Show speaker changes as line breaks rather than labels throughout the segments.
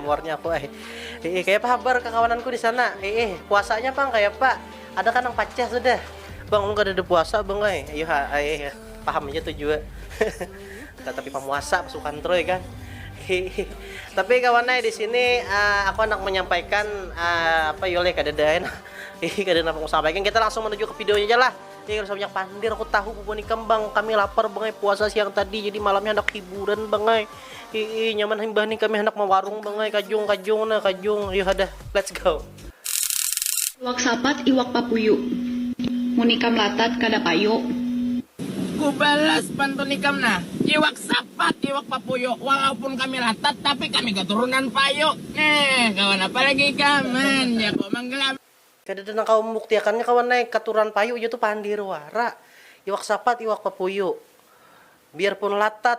Muarnya aku ai. Iih, kaya apa habar kakawananku di sana? Iih, puasanya pang kaya apa? Ada kan nang pacah sudah? Bang, ulun kadada puasa bang ai. Ayuh ha, ai, paham haja tu jua. Kada tapi pamuasa pasukan troy kan. Iih. Tapi kawan ai di sini ah, aku handak menyampaikan ah, apa yo leh kadada ai nah. Iih, kada napa ku sampaikan. Kita langsung menuju ke videonya ja lah. Iih, kada usah banyak pandir aku tahu bubuhan ikam bang. Kami lapar bang ai puasa siang tadi jadi malamnya handak hiburan bang ai. Hiih nyaman himbah nih kami handak mawarung bang ai kajung kajung nah kajung ayuha dah let's go. Iwak sapat iwak papuyu. Mun ikam latat kada payu. Ku balas pantun ikam nah. Iwak sapat iwak papuyu walaupun kami latat tapi kami katurunan payu nah kawan apa lagi ikam man jago manggelam. Kadada nang kawa mambuktiakannya kawan ai katurunan payu jar tu pandir wara iwak sapat iwak papuyu biarpun latat.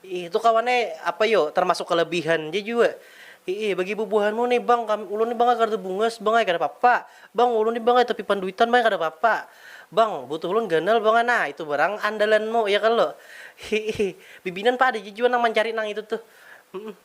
Iih itu kawan ai apa yo termasuk kelebihan ja jua. Iih bagi bubuhanmu nih bang kami ulun nih bang ai kada bungas bang ai kada papa. Bang ulun nih bang ai tapi panduitan bang ai kada papa. Bang butuh ulun ganal bang ai nah itu barang andalanmu ya kalo. Iih bibinan pa ada ja jua nang mancari nang itu tuh.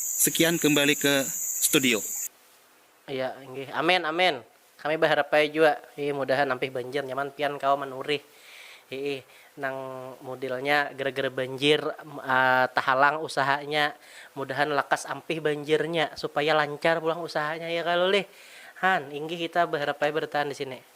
Sekian kembali ke studio. Iya inggih amin amin kami baharapai jua iih mudahan ampih banjir nyaman pian kawa manurih iih nang mudilnya gara gara banjir tahalang usahanya mudahan lakas ampih banjirnya supaya lancar pulang usahanya ya kalo lih han inggih kita baharapai bartahan disini.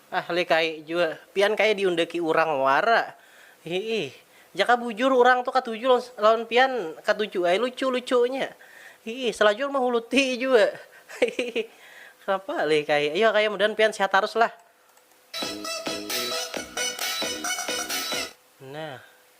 Ah likahi jua, pian kaya diundaki urang wara. Hiih. Jaka bujur urang tu katuju lawan pian katuju ai lucu-lucunya. Hiih, salajur mahuluti jua. Hiih. Kenapa likahi, ayu hakaya mudahan pian sehat tarus lah. Nah.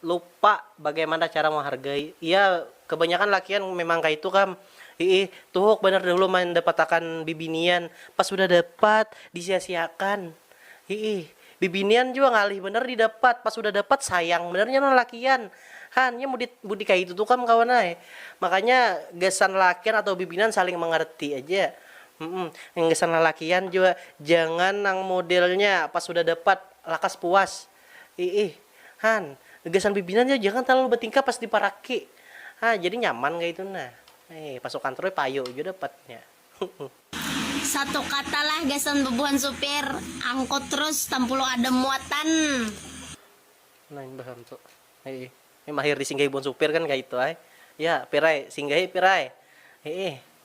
lupa bagaimana cara menghargai iya kebanyakan lakian memang kaitu kam iih tuhuk banar dahulu mandapatakan bibinian pas sudah dapat disiasiakan iih bibinian jua ngalih banar didapat pas sudah dapat sayang banar nya lalakian han nya mudi mudi kaitu tu kam kawan ai makanya gasan lalakian atau bibinian saling mengerti aja gasan lalakian jua jangan nang modelnya pas sudah dapat lakas puas. Iih. Han, gasan bibinan ja jangan talalu batingkah pas diparaki. Ha, jadi nyaman kaitu nah. Iih, pas ukantroi payu jua dapat nya. Huhuh. Satu kata lah gasan bebuhan supir angkut terus tampulu ada muatan. Nah imbah am tu. Iih. Nih mahir disinggahi buhan supir kan kaitu ai. Ya, Pir ai, singgahi Pir ai. Iih.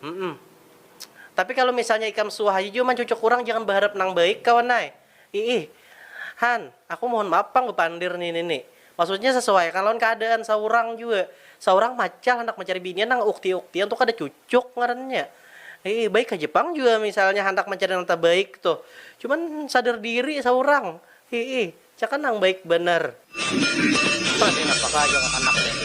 Humm. Tapi kalu misalnya ikam suah haja jua mancucuk urang jangan baharap nang baik kawan ai. Iih. Han, aku mohon maaf pang bapandir ni nini. Maksudnya sasuaiakan lawan kaadaan saurang jua. Saurang macal handak mancari binian nang ukti-uktian tu kada cucuk ngarannya. Iih, baik haja pang jua misalnya handak mancari nang tabaik tuh. Cuman sadar diri saurang. Iih. Caka nang baik banar. Apa sih napa ka aja kakanak nih.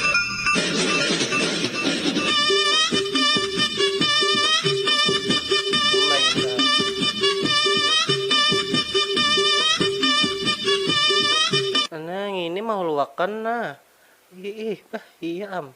Nah ngini mahuluakan nah. Iih bah iya am.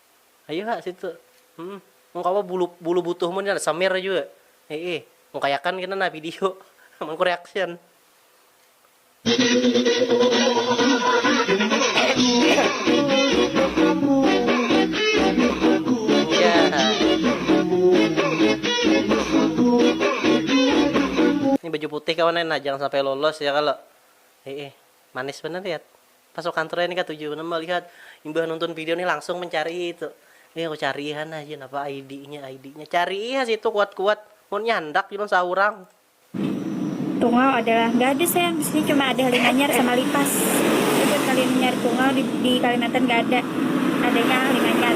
Ayu ha situ. Hum. Mun kawa bulu bulu butuh mun ya samer jua. Hiih. Mun kayakan kena nah video. Amun ku reaction. Ini baju putih kawan ai nah jangan sampai lolos ya kalo. Hiih. Manis banar ya. Pasukan Troya ni katuju banar malihat, imbah nonton video ni langsung mencari itu, nih aku carii ha nah jar napa ID nya ID nya, carii ha situ kuat kuat, munnya handak jua saurang. Tungau adalah nggak ada sayang di sini cuma ada halimanyar sama lipas aja halimanyar tungau di di kalimantan nggak ada adanya halimanyar.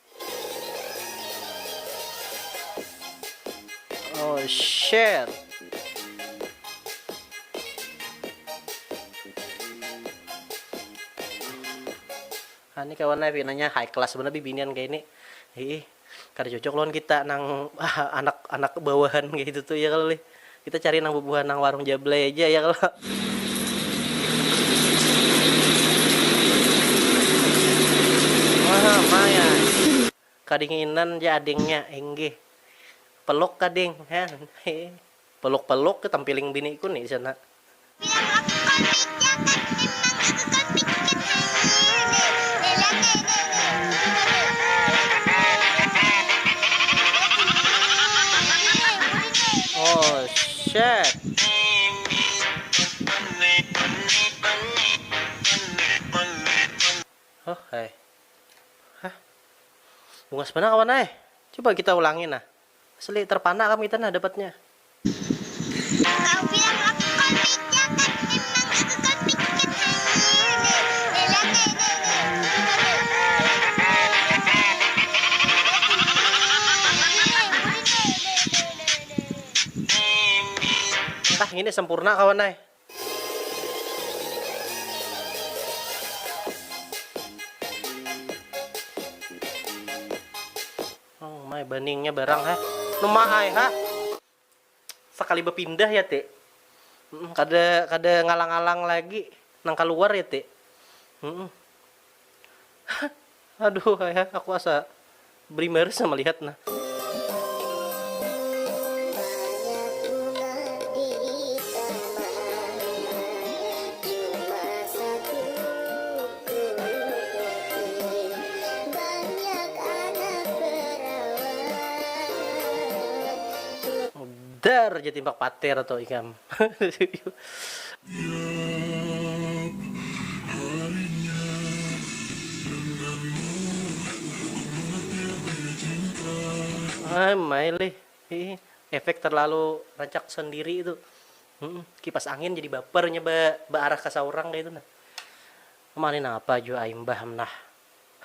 Oh shit. Nah, ini kawan Nabi nanya high class bener bibinian kayak ini. Ih, kada cocok lawan kita nang anak-anak bawahan kayak itu tuh ya kalau lih. Kita cari nang bubuhan nang warung Jablay aja ya kalo. Kadinginan ja adingnya, inggih. Peluk ka ding, han. Peluk-peluk, tempiling biniku ni di sana. Bungas banar kawan ai. Coba kita ulangi nah. Asli terpana kami itu nah dapatnya. Nah ngini sempurna kawan ai. Oh my baningnya barang ha. Numa ai ha. Sekali berpindah ya ti. Mm, kada kada ngalang-alang lagi nang keluar ya ti. Mm. Aduh hai ha aku asa berimaris sama lihat nah. Dar ja timbak patir tu ikam. Am ai lih, efek terlalu rancak sendiri tu. Humm kipas angin jadi baper inya ba baarah ka saurang kaya itu nah. Mani napa jua ai mbah am nah.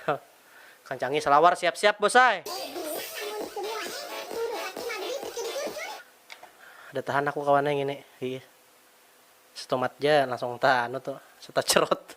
Hah. Kancangi salawar siap siap bos ai. Kada tahan aku kawan ai ngini, hiih. Stomat ja langsung ta anu tu, setacerot.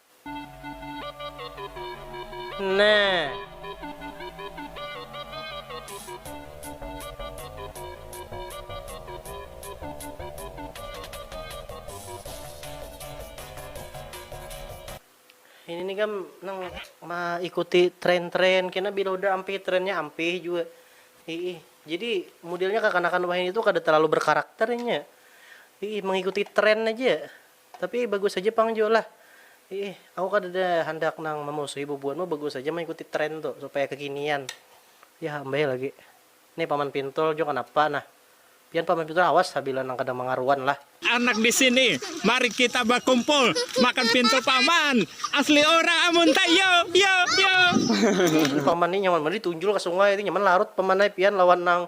Ini nih kam nang maikuti tren-tren kena biloda ampih trennya ampih jua iih jadi mudelnya kakanakan wahini tuh kada terlalu berkarakter inya iih mengikuti tren aja. Tapi bagus haja pang jua lah. Iih, aku kadada handak nang mamusuhi bubuhanmu bagus haja mangikuti trend tu supaya kekinian. Yah am bae lagi. Nih paman pintul jua kanapa nah. Pian paman pintul awas ha bila nang kada mangaruan lah. Anak di sini, mari kita bakumpul makan pintul paman, asli urang amun ta yo yo yo. Paman ni nyaman banar ditunjul ka sungai tu nyaman larut paman ai pian lawan nang.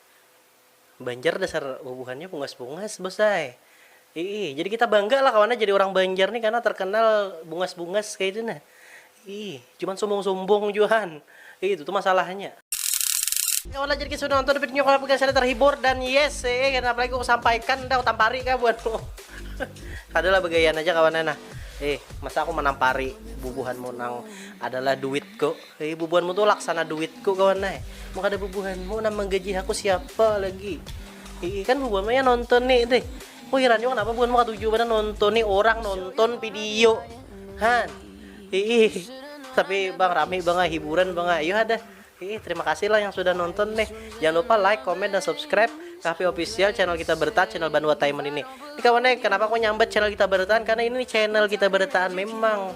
Banjar dasar bubuhannya bungas-bungas bos ai, iih jadi kita bangga lah kawan jadi urang banjar nih karna terkenal bungas-bungas kaitu nah, iih cuman sumbung-sumbung jua han, iih itu tu masalahnya. Kawan lah jadi kita sudah nonton videonya kawan apabila kalian terhibur dan yes ee kena apa lagi ku sampaikan dah ku tampari kah buat mu kada lah begayaan aja kawan nah, eh masa aku manampari bubuhanmu nang adalah duitku. Hei bubuhanmu tu laksana duitku kawan ai. Mun kada bubuhanmu nang manggaji aku siapa lagi. Hii kan bubuhanmu yang nontoni tih. Ku hiran jua kanapa bubuhanmu katuju banar nontoni orang nonton video. Han. Hii. Tapi bang rami bang ai hiburan bang ai. Yo hadah. Hii terima kasih lah yang sudah nonton nih. Jangan lupa like, comment dan subscribe Kahfi Official channel kita bertahan channel Banua Taiman ini. Ini kawan ai kenapa aku nyambat channel kita bertahan karena ini channel kita bertahan memang.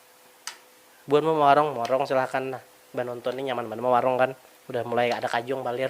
Buhan mau mawarung, mawarung silahkan nah. Banonton ni nyaman banar mawarung kan. Udah mulai ada kajung balir.